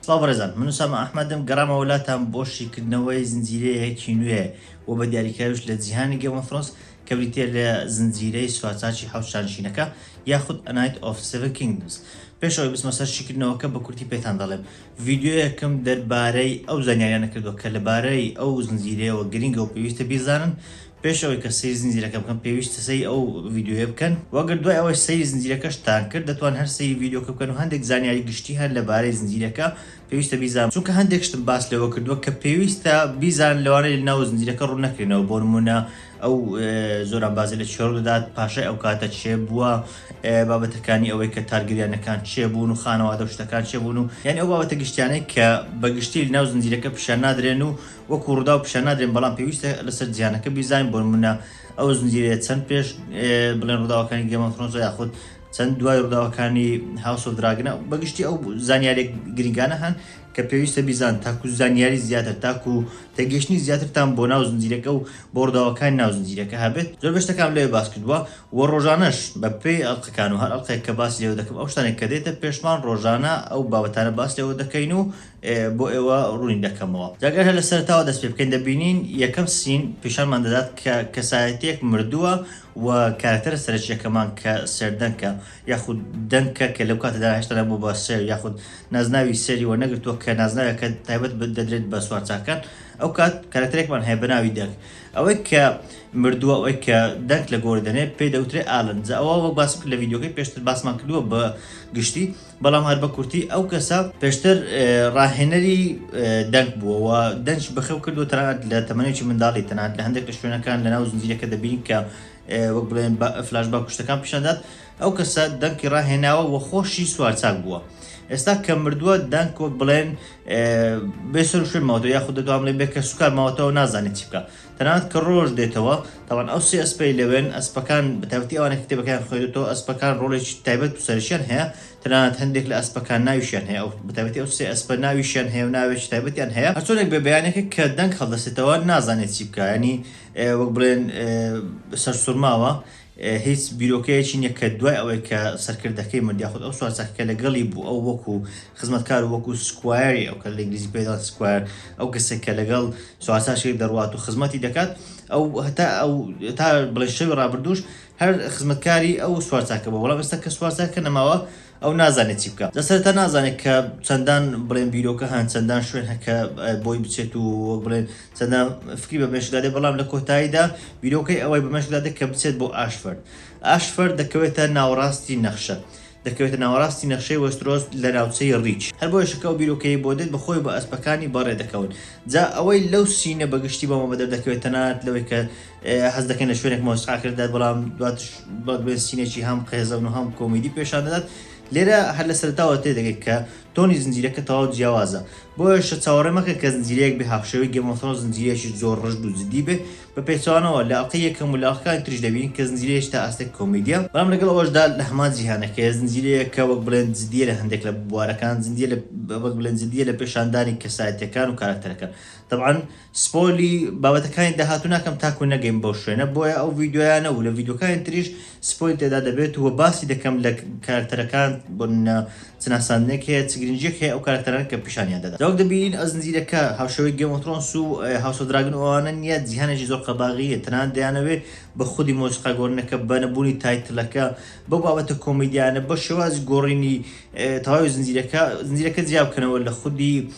سڵاو بەڕێزان من سامە ئەحمەدم گەڕامەوە لاتان بۆ شیکردنەوەی زنجیرەیەکی نوێ و بە دیاریکراویش لە جیهانی گەمەفرۆس کە بریتە لە زنجیرەی سوارچاکی حەوت شانشینەکە یاخود ئەنایت ئۆف سێڤن کینگدمز پێشەوەی بچمە سەر شیکردنەوەکە بە کورتی پێتان دەڵێم ڤیدیۆیەکم دەربارەی ئەو زانیاریانە کردووە کە لەبارەی ئەو زنجیرەیەوە گرنگە و پێویستە بیزانن پێش ئەوەی کە سەیری زنجیرەکە بکەن پێویستە سەیری ئەو ڤیدیۆیە بکەن و ئەگەر دوای ئەوەش سەیری زنجیرەکەشتان کرد دەتوان هەر سەیری ڤیدیۆکە بکەن و هەندێک زانیاری گشتی هەن لەبارەی زنجیرەکە پێویستە بیزان چونکە هەندێک شتم باس لەوە کردووە کە پێویستە بیزان لەوانەیە لەناو زنجیرەکە ڕوون نەکرێنەوە بۆ نموونە ئەو زۆران بازی لە چێڕ دەدات پاشای ئەو کاتە چێ بووە بابەتەکانی ئەوەی کە تارگریانەکان چێ بوون و خانەوادە شتەکان چێ بوون و یعنی ئەو بابەتە گشتیانەی کە بە گشتی لەناو زنجیرەکە پیشان نادرێن و وەکو ڕووداو پیشان نادرێن بەڵام پێویستە لەسەر جیهانەکە بیزانین بۆ نموونە ئەو زنجیرەیە چەند پێش بڵێن ڕووداوەکانی گێم ئۆف ثرۆنسە یاخود چەند دوای ڕووداوەکانی هاوس ئۆف دراگنە بەگشتی ئەو زانیاریە گرنگانە هەن کە پێویستە بیزان تاکو زانیاری زیاتر تاکو تێگەیشتنی زیاترتان بۆ ناو زنجیرەکە و بۆ ڕووداوەکانی ناو زنجیرەکە هەبێت زۆربەی شتەکانم لەوێ باس کردووە و ڕۆژانەش بەپێی ئەڵقەکان و هەر ئەڵقێک کە باسی لێوە دەکەم ئەو شتانەی کە دێتە پێشمان ڕۆژانە ئەو بابەتانە باس لێوە دەکەین و بۆ ئێوە ڕوونی دەکەمەوە. جا گەر هەر لە سەرەتاوە دەست پێ بکەین، دەبینین یەکەم سین پیشانمان دەدات کە کەسایەتییەک مردووە و کارەکتەرە سەرەکییەکەمان کە سێردەنکە یاخود دەنکە کە لەو کاتەدا هێشتا نەبووە بە سێر یاخود نازناوی سێری وەرنەگرتووە کە نازناوێکە تایبەت دەدرێت بە سوارچاکان، ئەو کات کارەکتەرێکمان هەیە بە ناوی دەنک. ئەوەی کە مردووە، ئەوەی کە دەنک لە گۆڕی دەنێت پێی دەوترێت ئالن. جا ئەوە وەک باسم کرد لە ڤیدیۆکەی پێشتر باسمان کردووە بە گشتی. بەڵام هەر بە کورتی ئەو کەسە پێشتر ڕاهێنەری دەنگ بووە و دەنج بەخەو کردو تەنانەت لە تەمەێکی منداڵی تەنات لە هەندێک لە شوێنەکان لە ناو زنجیرەکە دەبین کە وەک بڵێن فلاش با کوشتەکان پیشدات ئەو کەسە دەنکی ڕاهێناوە و خۆشی سوارچاک بووە. ئێستا کە مردووە دەنگ وەک بڵێن بێسەر شوێن ماوەوە یاخود دەتوام لێ بێکە سوکار ماوەتەوە نازانێت چی بکە تەنانەت کە ڕۆژ دێتەوە، تابان ئەو سێ ئەسپەی لەوێن، ئەسپەکان، بە تایبەتی ئەوانەی کە کتێبەکەیان خوێندۆتەوە، ئەسپەکان ڕۆڵێکی تایبەت و سەرەکییان هەیە، تەنانەت هەندێک لە ئەسپەکان ناویشیان هەیە، ئەو، بە تایبەتی ئەو سێ ئەسپە ناویشیان هەیە و ناوێکی تایبەتیان هەیە، هەرچۆنێک بێ بەیانێکە کە دەنگ هەڵدەستێتەوە نازانێ چی بکا، یانی وەک بڵێن سەرسوڕماوە، هیچ بیرۆکەیەکی نیە کە دوای ئەوەی کە سەرکردەکەی مرد یاخود ئەو سوار چاکەکە لەگەڵی بوو ئەو وەکو خزمەتکار و وەکو سکوایەری ئەو کە لە ئینگلیزی پێی دەڵێن سکوایەر ئەو کەسێک کە لەگەڵ سوارچاکەکەی دەڕوات و خزمەتی دەکات ئەو هەتا ئەو تا بڵێ شەوی ڕابردووش هەر خزمەتکاری ئەو سوارچاکە بوو بەڵام ئێستا کە سوارچاکەکە نەماوە ئەو نازانێت چی بکات. لە سەرەتا نازانێت کە چەندان بڵێن بیرۆکە هەن، چەندان شوێن هەن کە بۆی بچێت و وەک بڵێن چەندان فکری بە مێشکدا دێت، بەڵام لە کۆتاییدا بیرۆکەی ئەوەی بە مێشکدا دێت کە بچێت بۆ ئاشفەرد. ئاشفەرد دەکەوێتە ناوەڕاستی نەخشە. دەکەوێتە ناوەڕاستی نەخشەی وێسترۆس لە ناوچەی ڕیچ. هەر بۆیەشە کە ئەو بیرۆکەی بۆ دێت بە خۆی و بە ئەسپەکانی بەڕێ دەکەون. جا ئەوەی لەو سینە بە گشتی بۆ مەمە دەردەکەوێت تەنانەت لەوەی کە حەز دەکەین لە شوێنێک مۆسیقاکرد دەدات بەڵام دواتش بەگوێنسینێکی هەم قێزەون و هەم کۆمیدی پێشان دەدات لێرە هەر لە سەرتاوە تێ دەگەێت کە تۆنی زنجیرەکە تەواو جیاوازە بۆیشە چاوەڕێ مەکە کە زنجیرەیەک بێ هاوشەوەی گەمەفرۆن زنجیرەیەکی زۆر ڕژد و جدی بێ بە پێچوانەوە لە ئەڵقی یەکەم و لاقەکان تریش دەبین کە زنجیرەیەش تا ئاستێک کۆمیدیا بەڵام لەگەڵ ئەوەشدا لە هەمان جیهانەکەی زنجیرەیە کە وەک بڵێن جدیە لە هەندێک لە بوارەکان زنجیە وەک بڵێن جدیە لە پێشاندانی کەسایەتەکان و کارکتەرەکان طبعاً سپۆیلی بابەتەکانی داهاتوو ناکەم تاکو نەگەین بەو شوێنە بۆیە ئەو ڤیدیۆیانە و لە ڤیدیۆکانی تریش سپۆیل تێدا دەبێت و باسی دەکەم لە کارەکتەرەکان بۆ نمونە چ ناساندنێک هەیە چ گرنگیەک هەیە ئەو کارەکتەرانە کە پیشانیان دەدەن جا وەک دەبینین ئەو زنجیرەکە هاوشێوەی گێم ئۆف ترۆنس و هاوس ئۆف دراگن و ئەوانە نیە جیهانێکی زۆر قەباغیە تەنانەت دەیانەوێ بە خودی مۆسیقا گۆرنەکە بە نەبوونی تایتلەکە بەو بابەتە کۆمیدیانە بە شێوازی گۆڕینی تەواوی زنجیرەکە زنجیرەکە جیا بکەنەوە لە خودی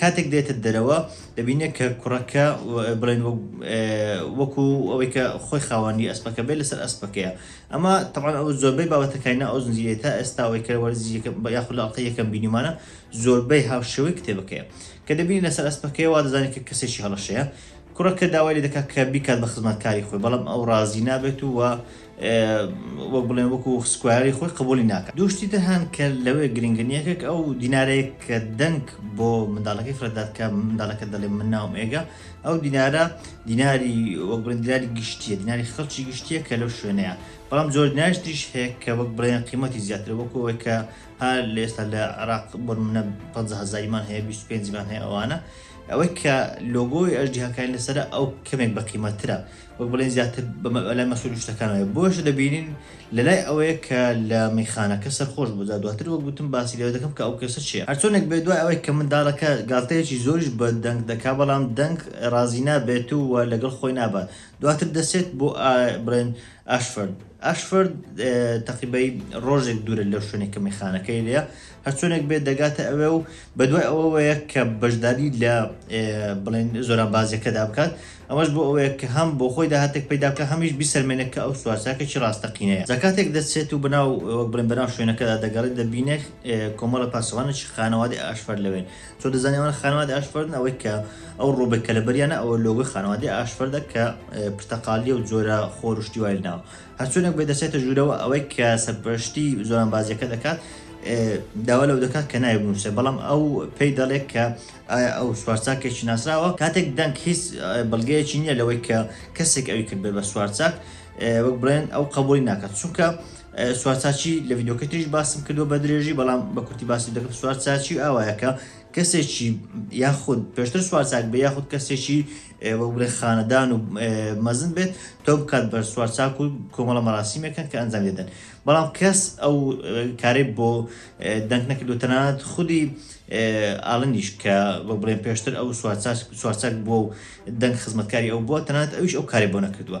کاتێک دێتە دەرەوە دەبینێت کە کوڕەکە بڵێن وەکو ئەوەی کە خۆی خاوەنی ئەسپەکە بێت لەسەر ئەسپەکەیە ئەمە تەبان ئەو زۆربەی بابەتەکانە ئەو زنجیرەیە تا ئێستا ئەوەی کە وەرزیەکە یاخود لە ئەڵقەی یەکەم بینیمانە زۆربەی هاوشێوەی کتێبەکەیە کە دەبینی لەسەر ئەسپەکەی وا دەزانێت کە کەسێکی هەڵەشەیە کوڕەکە داوای لێ دەکات کە بیکات بە خزمەتکاری خۆی بەڵام ئەو ڕازی نابێت و وەک بڵێن وەکو سکوایەری خۆی قبولی ناکات دوو شتی تر هەن کە لەوێ گرنگن یەکێک ئەو دینارەیە کە دەنگ بۆ منداڵەکەی فرەدات کە منداڵەکە دەڵێ من ناوم ئێگە ئەو دینارە دیناری وەک بڵێن دیناری گشتیە دیناری خەڵکی گشتیە کە لەو شوێنەیە بەڵام زۆر دیناریش تریش هەیە کە وەک بڵێن قیمەتی زیاتر وەکو ئەوەی کە هەر لە ئێستا لە عراق بۆ نمونە 50 هەزاریمان هەیە 25 مان هەیە ئەوانە ئەوەی کە لۆگۆی ئەژدیهاکانی لەسەرە ئەو کەمێک بە قیمەترە وەک بڵێین زیاتر لای مەسوول و شتەکانەوەیە، بۆیەشە دەبینین لەلای ئەوەیە کە لە مەیخانەکە سەرخۆش بوو، جا دواتر وەک گوتم باسی لەوە دەکەم کە ئەو کەسە چێ. هەرچۆنێک بێت دوای ئەوەی کە منداڵەکە گاڵتەیەکی زۆریش بە دەنگ دەکا بەڵام دەنگ ڕازی نابێت و وە لەگەڵ خۆی نابات دواتر دەچێت بۆ بڵێن ئاشفۆرد ئاشفۆرد تەقیبەی ڕۆژێک دوورە لەو شوێنێک کە مەیخانەکەی لێیە هەرچۆنێک بێت دەگاتە ئەوێ و بەدوای ئەوەوەیە کە بەشداری لە بڵێن زۆرانبازیەکەدا بکات ئەمەش بۆ ئەوەیە کە هەم بۆ خۆی داهاتێک پەیدا بکە هەمیش بیسەلمێنێت کە ئەو سوارچاکە چی ڕاستەقینەیە جا کاتێک دەچێت و بەناو وەک بڵێن بەناو شوێنەکەدا دەگەڕێت دەبینێت کۆمەڵە پاسەوانێکی خانەوادەی ئاشفەر لەوێن چۆن دەزانێت ئەوان خانەوادەی ئاشفەرن ئەوەی کە ئەو ڕۆبێک کە لەبەریانە ئەوە لۆگۆی خانەوادەی ئاشفەردە کە پرتەقاڵییە و جۆرە خۆر و شتی وای لەناوە هەرچۆنێک بێت دەچێتە ژوورەوە، ئەوەی کە سەرپەرشتی زۆرانبازییەکە دەکات داوا لەو دەکات کە ناوی بنووسێت، بەڵام ئەو پێی دەڵێت کە ئایا ئەو سوارچاکێکی ناسراوە؟ کاتێک دەنک هیچ بەڵگەیەکی نییە لەوەی کە کەسێک ئەوی کردبێت بە سوارچاک، وەک بڵێن ئەو قەبووڵی ناکات، چونکە سوارچاکی لە ڤیدیۆکەی تریش باسم کردووە بە درێژی، بەڵام بە کورتی باسی دەکەم، سوارچاکی ئاوایە کە کەسێکی یاخود پێشتر سوارچاک بێت یاخود کەسێکی وەگورە خانەدان و مەزن بێت تۆ بکات بە سوارچاک و کۆمەڵە مەراسیمێکن کە ئەنجامی دەدەن بەڵام کەس ئەو کارەی بۆ دەنگ نەکردو تەنانەت خودی ئالنیش کە وەک بڵێن پێشتر ئەو سوارچاک بووە و دەنگ خزمەتکاری ئەو بووە تەنانەت ئەویش ئەو کارەی بۆ نەکردووە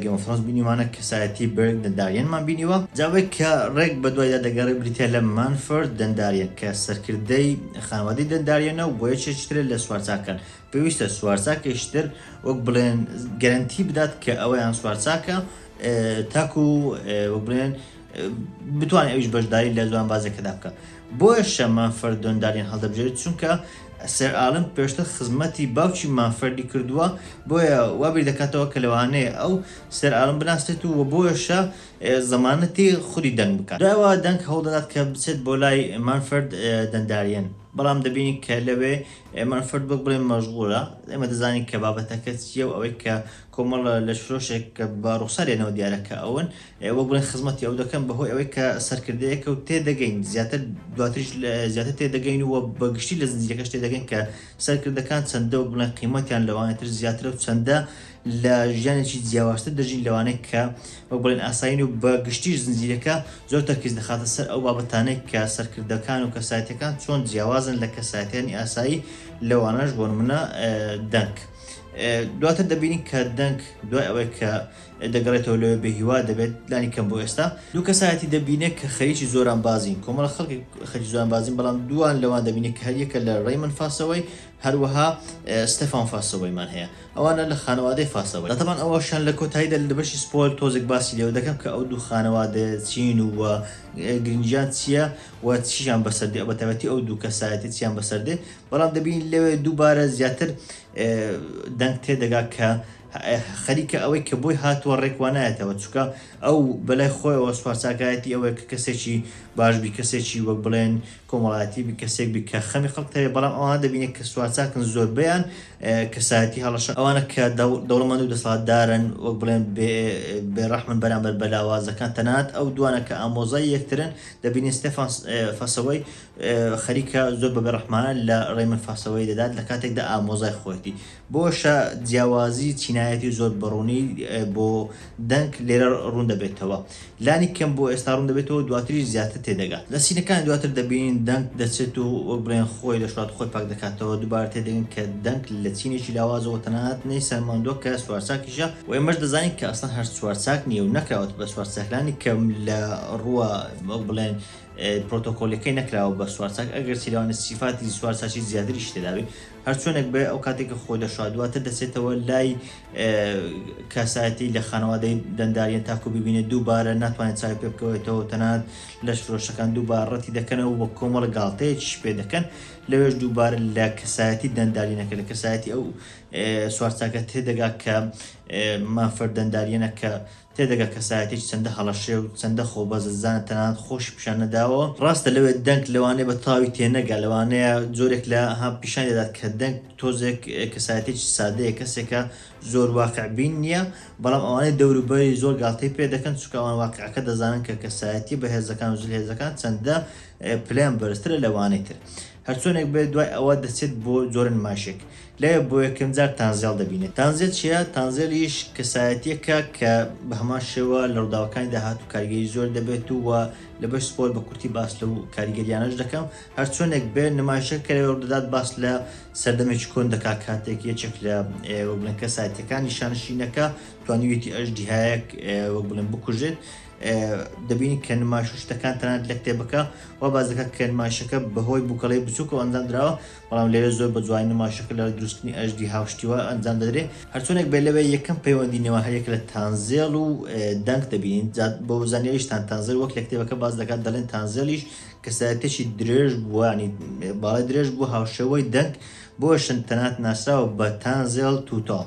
گەیم ئۆف ثرۆنس بینیومانە کەسایەتی بێرگ دەنداریەنمان بینیوە جا ئەوەی کە ڕێک بەدوایدا دەگەڕێ بریتیە لە مانفۆرد دەنداریەن کە سەرکردەی خانەوادەی دەنداریەنە و بۆ یەکێکی ترە لە سوارچاکان پێویستە سوارچاکێکی تر وەک بڵێن گەرەنتی بدات کە ئەویان سوارچاکە تاکو وەک بڵێن بتوانێت ئەویش بەشداری لە جوانبازیەکەدا بکە بۆیشە مافەر دۆندالیان هەڵدەبژێت چونکە سەر ئالم پێشتر خزمەتی باوکی مافەردی کردووە بۆیە وابیر دەکاتەوە کە لەوانەیە ئەو سەر ئالم بناسێت و بۆیشە زەمانەتی خودی دەنگ بکات داوا دەنگ هەوڵدەدات کە بچێت بۆ لای مانفرد دەنداریەن بەڵام دەبینی کە لەوێ مانفرد بک بڵێ مەژغولە ئێمە دەزانین کە بابەتەکە چیە و ئەوەی کە کۆمەڵە لە شرۆشێک کە بە ڕوخسارێنەوە دیارە کە ئەون وەک بڵێن خزمەتی ئەو دەکەن بەهۆی ئەوەی کە سەرکردەیەکە و تێدەگەین زیاتر دواتریش زیاتر تێدەگەین و بە گشتی لە زنجیرەکەش تێدەگەین کە سەرکردەکان چەندە وەک بڵێن قیمەتیان لەوانی تر زیاترە و چەندە لە ژیانێکی جیاوازتر دەژین لەوانەیە کە وەک بڵێن ئاسایین و بە گشتیش زنجیرەکە زۆر تەرکیز دەخاتە سەر ئەو بابەتانەی کە سەرکردەکان و کەسایەتەکان چۆن جیاوازن لە کەسایەتیانی ئاسایی لەوانەش بۆنمونە دەنک دواتر دەبینین کە دەنک دوای ئەوەی کە دەگەڕێتەوە لەوێ بێ هیوا دەبێت، لانی کەم بۆ ئێستا. دوو کەسایەتی دەبینێت کە خەریکی زۆرانبازین، کۆمەڵە خەڵکێک خەریکی زۆرانبازین، بەڵام دووان لەوان دەبینێت کە هەر یەکە لە ڕەیمن فاسەوەی، هەروەها ستێفان فاسەوەیمان هەیە، ئەوانە لە خانەوادەی فاسەوەی. تەبعەن ئەوەشیان لە کۆتاییدا لە بەشی سپۆیل تۆزێک باسی لێوە دەکەم کە ئەو دوو خانەوادەیە چین و گرنگیان چییە و چییان بەسەر دێ، بەتایبەتی ئەو دوو کەسایەتیە چییان بەسەر دێ، بەڵام دەبینین لەوێ دووبارە زیاتر دەنگ تێدەگا کە خەریکە ئەوەی کە بۆی هاتووە ڕێک وا نایەتەوە، چونکە ئەو بە لای خۆیەوە سوارچاکایەتی ئەوەیە کە کەسێکی باش بی، کەسێکی وەک بڵێن کۆمەڵایەتی بی، کەسێک بی کە خەمی خەڵکت هەبێت، بەڵام ئەوانە دەبینێت کە سوارچاکن زۆربەیان کەسایەتی هەڵەشە، ئەوانە کە دەوڵەمەند و دەسەڵاتدارن وەک بڵێن بێ ڕەحمن بەرامبەر بە لاوازەکان، تەنانەت ئەو دوانە کە ئامۆزای یەکترن دەبینین ستێفان فاسەوەی خەریکە زۆر بە بێ ڕەحمانە لە ڕەیمن فاسەوەی دەدات لە کاتێکدا ئامۆزای خۆیەتی، بۆشە جیاوازی چینایەتی زۆر بەڕوونی بۆ دەنک لێرە ڕوون دەبێتەوە. لانی کەم بۆ ئێستا ڕوون دەبێتەوە دواتریش زیاتر تێدەگات. لە سینەکانی دواتر دەبینین دەنک دەچێت و وەک بڵێن خۆی دەشڵات خۆی پاک دەکاتەوە، دووبارە تێدەگەین کە دەنک لە چینێکی لاوازەوە تەنانەت نەی سەلماندووە کە چوارچاکیشە و ئێمەش دەزانین کە ئەسڵەن هەر چوارچاک نییە و نەکراوەتە بە چوارچاک لانی کەم لە ڕووە وەک بڵێن پرۆتۆکۆلیەکەی نەکراوە بە چوارچاک ئەگەرچی لەوانە سیفاتی چوارچاکی زیاتریشی تێدابێت. هەر چۆنێک بێ ئەو کاتێک کە خۆی دەشا دواتر دەچێتەوە لای کەسایەتی لە خانەوادەی دەنداریان تاکو ببینێت دووبارە ناتوانێت چاوی پێ بکەوێتەوە تەنانەت لەش فرۆشەکان دووبار ڕەتی دەکەنەوە وە کۆمەڵە گاڵتەیەکیش پێ دەکەن لەوێش دووبارە لە کەسایەتی دەندارینەکە لە کەسایەتی ئەو سوارچاکە تێدەگا کە مانفرد دەنداریەنە کە تێدەگا کەسایەتیەکی چەندە هەڵەشێ و چەندە خۆبەزلزانە تەنانەت خۆشی پیشان نەداوە، ڕاستە لەوێ دەنگ لەوانەیە بە تەواوی تێنەگا، لەوانەیە جۆرێک لە ها پیشانی دەدات کە دەنگ تۆزێک کەسایەتیەکی سادەیە، کەسێکە زۆر واقع بین نیە، بەڵام ئەوانەی دەوروبەری زۆر گاڵتەی پێ دەکەن، چونکە ئەوان واقعەکە دەزانن کە کەسایەتیە بەهێزەکان و زلهێزەکان چەندە پلەیان بەرزترە لەوانەی تر. هەرچۆنێک بێت دوای ئەوە دەچێت بۆ جۆرە نمایشێک لەوێ بۆ یەکەم جار تانزێڵ دەبینێت تانزێڵ چیە؟ تانزێڵیش کەسایەتیەکە کە بەهەمان شێوە لە ڕوداوەکانی داهاتوو کاریگەری زۆر دەبێت و لە بەش سپۆر بە کورتی باس لەو کاریگەریانەش دەکەم هەرچۆنێک بێت نمایشە کە لەوێ ڕودەدات باس لە سەردەمێکی کۆن دەکات کاتێک یەکێک لە وەک بڵێن کەسایەتیەکانی شانشینەکە توانیویەتی ئەژدیهایەک وەک بڵێن بکوژێت دەبینی کە نمایش و شتەکان تەنانەت لە کتێبەکە وا باس دەکات کە نمایشەکە بەهۆی بووکەڵەی بچووکەوە ئەنجام دراوە، بەڵام لەوێ زۆر بە جوانی نمایشەکە لەڕێی دروستکردنی ئەژدیها و شتی وا ئەنجام دەدرێت. هەرچۆنێک بێت لەوێ یەکەم پەیوەندی نێوان هەر یەک لە تانزێڵ و دەنک دەبینین، جا بۆ زانیاریشتان تانزێل وەک لە کتێبەکە باس دەکات دەڵێن تانزێڵیش کەسایەتیەکی درێژ بووە یانی باڵای درێژ بووە هاوشێوەی دەنک بۆشن تەنانەت ناسراوە بە تانزێڵ تووتاڵ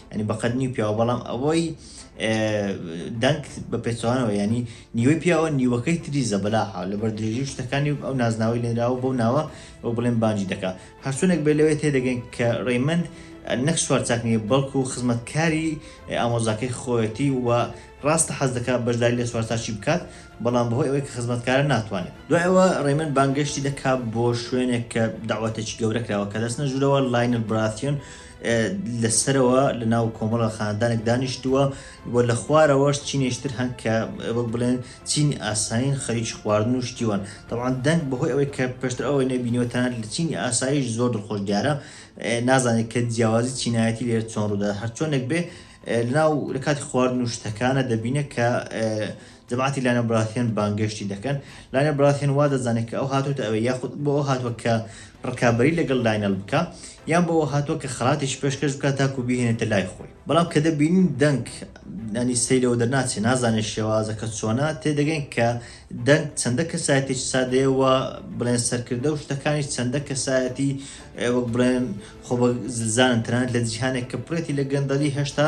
ینی بەقەت نیو پیاوە بەڵام ئەوەی دەنگ بە پێچوانەوە ینی نیوەی پیاوە نیوەکەی تری زەبەلاحا لەبەر درێژی شتەکانی ئەو نازناوی لێنراوە بەو ناوە ئەو بڵێن بانجی دەکا هەرچونێک بێ لەوێ تێدەگەین کە ڕێمەند نەک سوار چاک نیە بەڵکو و خزمەتکاری ئامۆزاکەی خۆەتی و ڕاستە حەز دەکات بەشداری لە سوارچاکی بکات بەڵام بەهۆی ئەوەی کە خزمەتکارە ناتوانێت دوایەوە ڕێمەند بانگەشتی دەکات بۆ شوێنێک کە داوەتێکی گەورە کراوە کە دەچنە ژورەوە لاینل براسیۆن لە سەرەوە لە ناو کۆمەڵە خاندانێک دانیشتووە و لە خوارەوەش چینێشتر هەن کە وەک بڵێن چینی ئاسایین خەریکی خواردن و شتیوان تەوان دەنگ بەهۆی ئەوەی کە پێشتر ئەوەی نەبینیوە تەنانەت لە چینی ئاساییش زۆر دڵخۆش دیارە نازانێت کە جیاوازی چینایەتی لێرە چۆن ڕوودا هەرچۆنێک بێ لەناو لە کاتی خواردن و شتەکانە دەبینێت کە جەماعەتی لانە براثیۆن بانگێشتی دەکەن، لانە براثیۆن وا دەزانێت کە ئەو هاتۆتە ئەوێ یاخود بۆ ئەو هاتوە کە ڕکابەری لەگەڵ لاینەڵ بکا یان بۆ ئەوە هاتوە کە خەڵاتێکی پێشکەش بکا تاکو بیهێنێتە لای خۆی بەڵام کە دەبینین دەنگ ینی سەی لەوە دەرناچێ نازانێ شێوازەکە چۆنە تێدەگەین کە دەنگ چەندە کەسایەتێکی سادەیە و بڵێن سەرکردە و شتەکانیش چەندە کەسایەتی وەک بڵێن خۆ بە زلزانن تەنانەت لە جیهانێک کە پڕێتی لە گەندەڵی هێشتا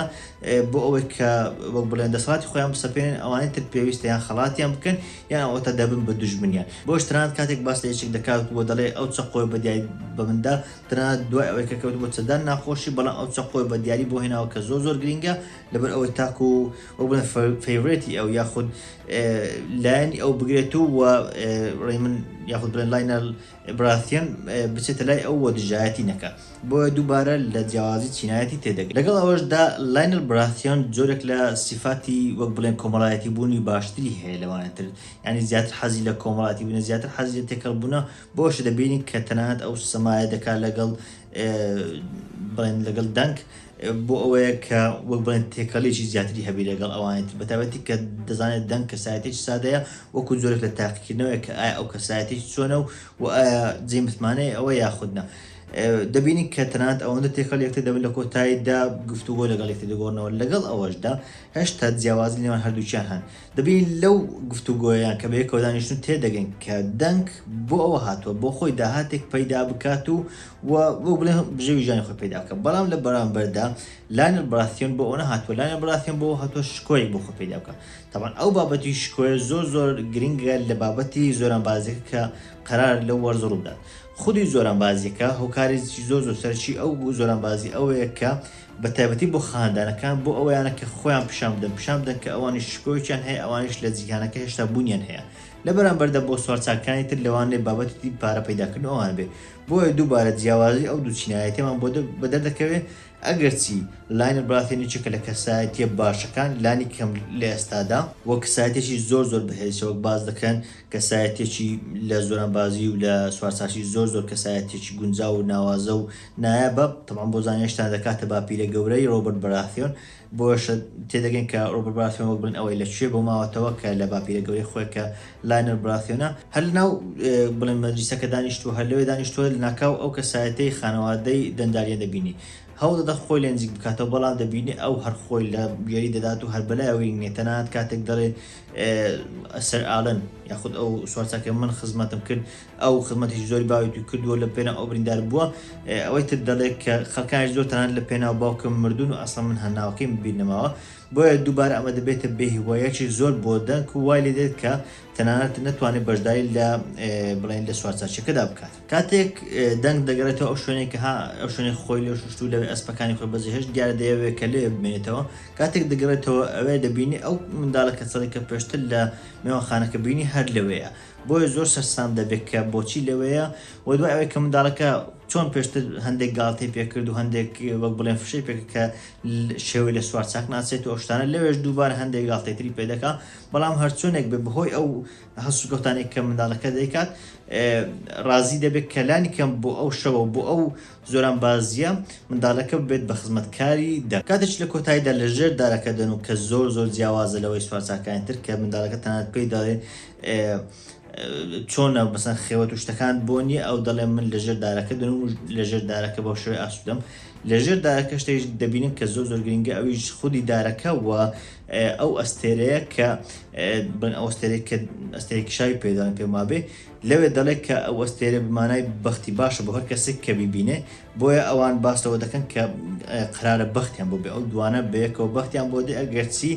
بۆ ئەوەی کە وەک بڵێن دەسەڵاتی خۆیان بسەپێنن ئەوانەی تر پێویستە یان خەڵاتیان بکەن یان ئەوەتا دەبن بە دوژمنیان بۆش تەنانەت کاتێک باس لە یەکێک دەکات بۆ دەڵێ ئەو چەقۆی بە دیای بە مندا تەنانەت دوای ئەوەی کە کەوت بۆ چەدان ناخۆشی بەڵام ئەو چەقۆی بە دیاری بۆ هێناوە کە زۆر زۆر گرینگە لەبەر ئەوەی تاکو وەک بڵێن فەیورێتی ئەو یاخود لایەنی ئەو بگرێت و ڕێ من یاخود بڵێن لاینەل براثیان بچێتە لای ئەو و دژایەتی نەکات، بۆیە دووبارە لە جیاوازی چینایەتی تێدەگەن. لەگەڵ ئەوەشدا لایۆنێل براثیان جۆرێک لە سیفاتی وەک بڵێن کۆمەڵایەتیبوونی باشتری هەیە لەوانی تر، یانی زیاتر حەزی لە کۆمەڵایەتیبوونە، زیاتر حەزی لە تێکەڵبوونە، بۆیەشە دەبینین کە تەنانەت ئەو سەمایە دەکات لەگەڵ بڵێن لەگەڵ دەنگ. بۆ ئەوەیە کە وەک بڵێن تێکەڵیەکی زیاتری هەبی لەگەڵ ئەوانی تر بەتابەتی کە دەزانێت دەنگ کەسایەتێکی سادەیە وەکو جۆرێک لە تاقیکردنەوەی کە ئایا ئەو کەسایەتێکی چۆنە و و ئایا جێ متمانەیە ئەوە یاخودنا دەبینی کە تەنات ئەوەندە تێکەڵ یەکتر دەبن لە کۆتاییدا گفتوگۆ لەگەڵ یەکتر دەگۆڕنەوە لەگەڵ ئەوەشدا هەشتا جیاوازی نێوان هەردووکیان هەن دەبێ لەو گفتوگۆیە کە بەیەکەوە دانیشتون تێدەگەین کە دەنگ بۆ ئەوە هاتوە بۆ خۆی داهاتێک پەیدا بکات و و وەک بڵێ بژێوی ژیانی خۆی پەیدا بکات بەڵام لە بەرامبەردا لایەنێل بەراسیۆن بۆ ئەوە هاتوە لایەنێل بەراسیۆن بۆ ئەوە هاتوە شکۆیەک بۆ خۆی پەیدا بکات تەبعەن ئەو بابەتی شکۆیە زۆر زۆر گرینگە لە بابەتی زۆرانبازیەکە کە قەرارە لەو وەرزە ڕووبدات خودی زۆرانبازیەکە هۆکارێکی زۆر زۆر سەرەکی ئەو زۆرانبازی ئەوەیە کە بە تایبەتی بۆ خاندانەکان، بۆ ئەوەیانە کە خۆیان پیشان بدەن، پیشان بدەن کە ئەوانیش شکۆیەکیان هەیە، ئەوانیش لە جیهانەکە هێشتا بوونیان هەیە. لە بەرامبەردا بۆ سوارچاکانی تر لەوانەیە بابەتی دی پارە پەیداکردن ئەوان بێ. بۆیە دووبارە جیاوازی ئەو دوو چینایەتیەمان بۆ بە دەر دەکەوێ، ئەگەرچی لاینەر بڕاتین یەکێکە لە کەسایەتیە باشەکان، لانی کەم لە ئێستادا، وە کەسایەتیەکی زۆر زۆر بەهێزیشە وەک باس دەکەن کەسایەتیەکی لە زۆرانبازی و لە سوارچاکی زۆر زۆر کەسایەتیەکی گونجاو و ناوازە و نایا بەب، تەبعەن بۆ زانیشتان دەکاتە باپیرە گەورەی رۆبەرت بەراثیۆن، بۆیەشە تێدەگەین کە رۆبەرت بەراثیۆن وەک بڵێن ئەوەی لە کوێ بۆ ماوەتەوە کە لە باپیرە گەورەی خۆی کە لاینەر بەراثیۆنە، هەر لە ناو بڵێن مەجلیسەکە دانیشتووە، هەر لەوێ دانیشتووە، لەناکاو ئەو کەسایەتیی خانەوادەی دەنداریان دەبینی. هەوڵ دەدا خۆی لێ نزیک بکاتەوە، بەڵام دەبینێ ئەو هەر خۆی لە گوێری دەدات و هەر بەلایەوەی نییە، تەنانەت کاتێک دەڵێ سەر ئالن یاخود ئەو سوارچاکەی من خزمەتم کرد، ئەو خزمەتێکی زۆری باوکی کردووە لە پێناو ئەو بریندار بووە. ئەوەی تر دەڵێ کە خەڵکانیش زۆر تەنانەت لە پێناو باوکم مردوون و ئەسڵەن من هەناوەکەیم بیر نەماوە. بۆیە دووبارە ئەمە دەبێتە بێ هیواییەکی زۆر بۆ دەنک و وای لێ دێت کە تەنانەت نەتوانێت بەشداری لە بڵێین لە سوارچاکییەکەدا بکات. کاتێک دەنک دەگەڕێتەوە ئەو شوێنەی کە ها ئەو شوێنەی خۆی لێ شووشت و لەوێ ئەسپەکانی خۆی بەجێ هێشت دیارە دەیەوێت کە لەوێ بمێنێتەوە. کاتێک دەگەڕێتەوە ئەوێ دەبینێ ئەو منداڵە کەچەڵی کە پێشتر لە مێوانخانەکە بینی هەر لەوێیە. بۆیە زۆر سەرسام دەبێت کە بۆچی لەوێیە و دوای ئەوەی کە منداڵەکە چۆن پێشتر هەندێک گاڵتەی پێکرد و هەندێک وەک بڵێن فشەی پێکرد کە شێوەی لە سوار چاک ناچێت و ئەوشتانە لەوێش دووبار هەندێک گاڵتەی تری پێدەکا بەڵام هەرچۆنێک بێ بەهۆی ئەو هەسوکەوتانێک کە منداڵەکە دەیکات ڕازی دەبێت کەلانی کەم بۆ ئەو شەوە بۆ ئەو زۆران بازیە منداڵەکە بێت بە خزمەتکاری دە کاتێک لە کۆتاییدا لە ژێر دارەکە دەن و کە زۆر زۆر جیاوازە لەوەی سوارچاکانی تر کە منداڵەکە تەنانەت پێی دەڵێن چۆنە مەسەن خێوەت و شتەکان بۆ نییە ئەو دەڵێ من لەژێر دارەکە دەن و لەژێر دارەکە بەو شوێ ئاسوودەم لەژێر دارەکە شتێک دەبینن کە زۆر زۆر گرنگە ئەویش خودی دارەکە و ئەو ئەستێرەیە کە بن ئەوستێرێک کە ئەستێکی شاوی پێدان پێمابێ لەوێ دەڵێت کە ئەو ئەستێرە بمانای بەختی باشە بۆ هەر کەسێک کە بیبینێ بۆیە ئەوان باسەوە دەکەن کە قرارە بەختیان بۆ بێ ئەو دوانە بەیەکەوە بەختیان بۆ دێ ئەگەرچی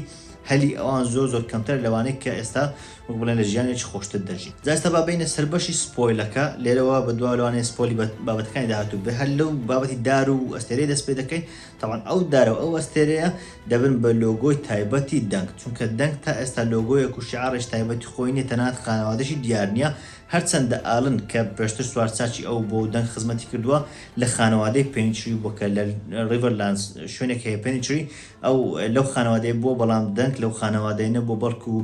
هەلی ئەوان زۆر زۆر کەمترە لەوانەی کە ئێستا وەک بڵێن لە ژیانێکی خۆشتر دەژین جا ئێستا با بێینە سەر بەشی سپۆیلەکە لێرەوە بەدواوە لەوانەیە سپۆیلی بابەتەکانی داهاتوو بێ هەر لەو بابەتی دار و ئەستێرەی دەست پێ دەکەین تاوان ئەو دارە و ئەو ئەستێرەیە دەبن بە لۆگۆی تایبەتی دەنگ چونکە دەنگ تا ئێستا لۆگۆیەک و شیعاڕێش تایبەتی خۆی نیە تەنانەت خانەوادەشی دیار نیە هەرچەندە ئالن کە پێشتر سوار چاکی ئەو بۆ و دەنگ خزمەتی کردووە لە خانەوادەی پێنچری بووە کە لە ڕیڤەرلاندز شوێنێک هەیە پێنچری ئەو لەو خانەوادەیە بووە بەڵام دەنک لەو خانەوادەیە نەبووە بەڵکو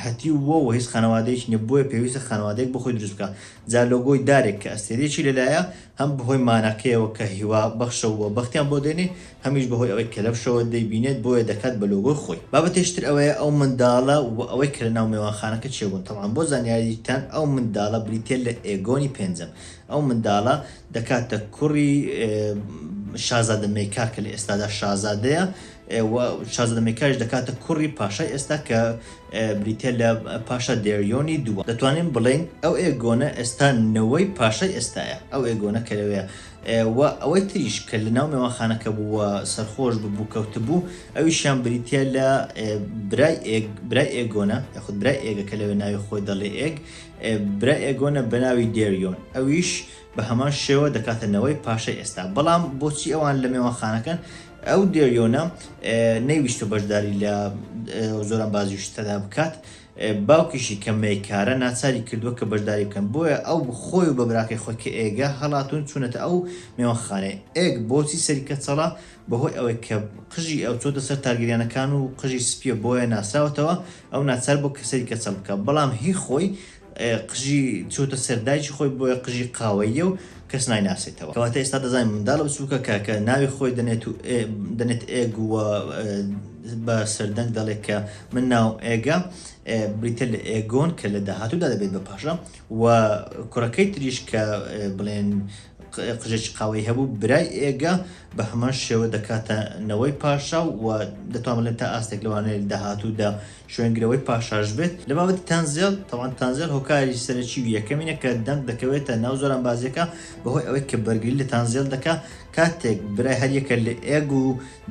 هەتیو بووە و هیچ خانەوادەیەکی نیە بۆیە پێویستە خانەوادەیەک بۆ خۆی دروست بکا جا لۆگۆی دارێک کە ئەستێرەیەکی لەلایە هەم بەهۆی ماناکەیەوە کە هیوا بەخشە و بەختیان بۆ دێنێ هەمیش بەهۆی ئەوەی کەلەپشەوە دەیبینێت بۆیە دەکات بە لۆگۆی خۆی بابەتێکی تر ئەوەیە ئەو منداڵە و ئەوەی کە لەناو مێوانخانەکە چێبوون تەبعەن بۆ زانیاریتان ئەو منداڵە بریتیە لە ئێگۆنی پێنجەم ئەو منداڵە دەکاتە کوڕی شازادە مێکا کە لە ئێستادا شازادەیە و شازادە مێکایش دەکاتە کوڕی پاشای ئێستا کە بریتە لە پاشا دێریۆنی دووە دەتوانین بڵێین ئەو ئێگۆنە ئێستا نەوەی پاشای ئێستایە ئەو ئێگۆنە کە لەوێ و ئەوەی تریش کە لە ناو مێوانخانەکە بوو و سەرخۆش ببوو کەوتبوو ئەویشیان بریتە لە برای ئێگ برای ئێگۆنە یاخود برای ئێگە کە لەوێ ناوی خۆی دەڵێ ئێگ برای ئێگۆنە بەناوی دێریۆن ئەویش بەهەمان شێوە دەکاتە نەوەی پاشای ئێستا بەڵام بۆچی ئەوان لە مێوانخانەکەن ئەو دێریۆنە نەیویستە بەشداری لە زۆران بازی شتەدا بکات باوکیشی کە مەیکارە ناچاری کردووە کە بەشداری بکەن بۆیە ئەو خۆی و بە براکەی خۆی کە ئێگە هەڵاتون چوونەتە ئەو مێوانخانەیە ئێگ بۆچی سەری کەچەڵە بەهۆی ئەوەی کە قژی ئەو چۆتە سەر تارگریانەکان و قژی سپیە بۆیە ناسراوەتەوە ئەو ناچار بوو کە سەری کەچەڵ بکات، بەڵام هی خۆی قژی چۆتە سەر دایکی خۆی، بۆیە قژی قاوەییە و کەس نایناسێتەوە. کەواتە ئێستا دەزانین منداڵە بچووکە کە کە ناوی خۆی دەنێت و دەنێت ئێگ و بە سەردەنگ دەڵێت کە من ناوم ئێگە، بریتیە لە ئێگۆن کە لە داهاتوودا دەبێت بە پاشا و کوڕەکەی تریش کە بڵێن قژێکی قاوەیی هەبوو، برای ئێگە بە هەمان شێوە دەکاتە نەوەی پاشا و دەتوان بڵێن تا ئاستێک لەوانەیە داهاتوودا شوێنگرەوەی پاشاش بێت. لە بابەتی تەنزێڵ، تەبعەن تەنزێڵ هۆکاری سەرەکی و یەکەمینە کە دەنگ دەکەوێتە ناو زۆر ئەنبازییەکە بەهۆی ئەوەی کە بەرگری لە تەنزێڵ دەکا کاتێک برای هەر یەکە لە ئێگ و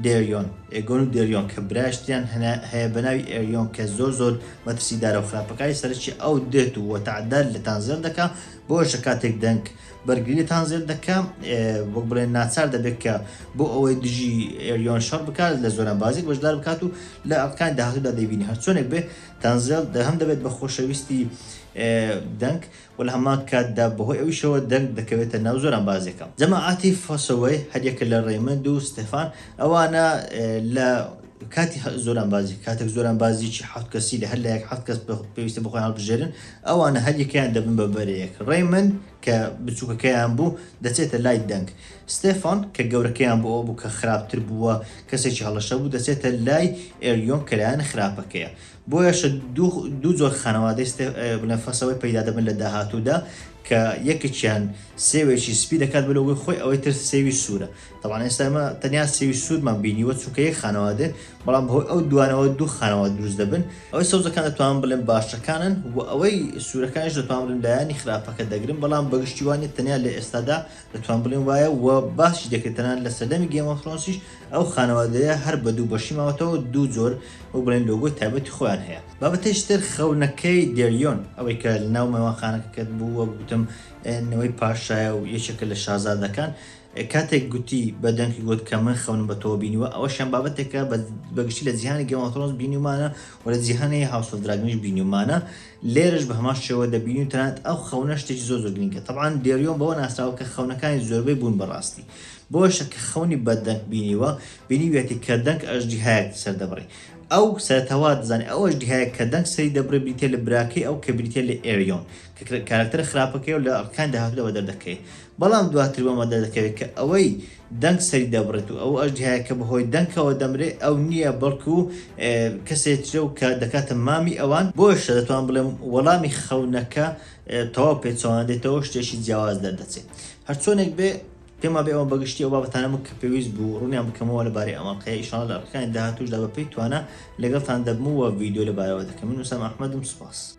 دێریۆن، ئێگۆن و دێریۆن، کە برایش تریان هەیە بە ناوی ئێریۆن کە زۆر زۆر مەترسیدارە و خراپەکاری سەرەکی ئەو دێت و تەعدات لە تەنزێڵ دەکا بۆیەشە کاتێک دەنگ بەرگریتان زێد دەکا وەک بڵێن ناچار دەبێت کە بۆ ئەوەی دژی ئێریۆن شەڕ بکات لە زۆرە بازیک بەشدار بکات و لە ئەڵکان داهاتودا دەبینی هەرچۆنێک بێ تەنزێل هەم دەبێت بە خۆشەویستی دەنگ و لە هەمان کاتدا بەهۆی ئەویشەوە دەنگ دەکەوێتە ناو زۆران بازیەکە جەماعاتی فەسەوەی هەریەکە لە ڕێمەند و ستەفان ئەوانە لە کاتی زۆران بازی کاتێک زۆران بازیی حوت کەسی لە هەر لایەک حوت کەس پێویستە بخۆیان هەڵبژێرن ئەوانە هەر یەکەیان دەبن بە بەرەیەک، ڕەیمن، کە بچووکەکەیان بوو، دەچێتە لای دەنگ، ستێفان، کە گەورەکەیان بۆ ئەوە بوو کە خراپتر بوو و کەسێکی هەڵەشە بوو، دەچێتە لای ئێریۆن کە لایەنە خراپەکەیە. بۆیەشە دوو دوو جۆر خانەوادەی ستێ بڵێن فەسەوەی پەیدا دەبن لە داهاتوودا کە یەکێکیان سێوێکی سپی دەکات بە لۆگۆی خۆی، ئەوەی تر سێوی سوورە. تەبعەن ئێستا ئێمە تەنیا سێوی سوورمان بینیوە چونکە یەک خانەوادێ بەڵام بەهۆی ئەو دوانەوە دوو خانەوە دروست دەبن ئەوەی سەوزەکان دەتوان بڵێن باشەکانن و ئەوەی سوورەکانش دەتوان بڵێن لایەنی خراپەکە دەگرن بەڵام بەگشتی وانێ تەنیا لە ئێستادا دەتوان بڵێن وایە و باسی دەکرێت تەنان لە سەردەمی گێمەفرۆنسیش ئەو خانەوادەیە هەر بە دوو بەشی ماوەتەوە دوو جۆر و بڵێن لۆگۆی تایبەتی خۆیان هەیە بابەتێکی تر خەونەکەی دێریۆن ئەوەی کە لە ناو مەوانخانەکەکەت بوو وەک گوتم نەوەی پاشایە و یەکێکە لە شازادەکان کاتێک گوتی بە دەنکی گوت کە من خەونم بە تۆوە بینیوە ئەوەشیان بابەتێکە بە گشتی لە جیهانی گێم ئۆف ترۆنس بینیومانە و لە جیهانی هاوس ئۆف دراگنیش بینیومانە لێرەش بە هەمان شێوە دەبینی و تەنانەت ئەو خەونە شتێکی زۆر زۆر گرینگە تەبعان دێریۆن بەوە ناسراوە کە خەونەکانی زۆربەی بوون بە ڕاستی بۆشە کە خەونی بە دەنک بینیوە بینیویەتی کە دەنک ئەژدیهایەک سەردەبڕی ئەو سەرەتاوا دەزانێت ئەو ئەژدیهایەک کە دەنک سەری دەبڕێ بریتییە لە براکەی ئەو کە بریتییە لە ئێریۆن کە کارەکتەرە خراپەکەی و لە ئەرکان داهاتووەوە دەردەکەوێت، بەڵام دواتر بۆمان دەردەکەوێت کە ئەوەی دەنک سەری دەبڕێت و ئەو ئەژدیهایە کە بەهۆی دەنکەوە دەمرێت ئەو نییە بەڵکو کەسێ ترە و کە دەکاتە مامی ئەوان، بۆیشە دەتوانم بڵێم وەڵامی خەونەکە تەواو پێچەوانە دێتەوەو شتێکی جیاواز دەردەچێت. هەرچۆنێک بێ پێمان بێ ئەوە بەگشتی ئەو بابەتانە بوون کە پێویست بوو ڕوونیان بکەمەوە لەبارەی ئەم ئەڵقەیە ئیشاڵا لە ئەڵقەکانی داهاتووشدا بەپێی توانا لەگەڵتان دەبم و ڤیدیۆ لەبارەوە دەکەم من ئوسامە ئەحمەدم سوپاس.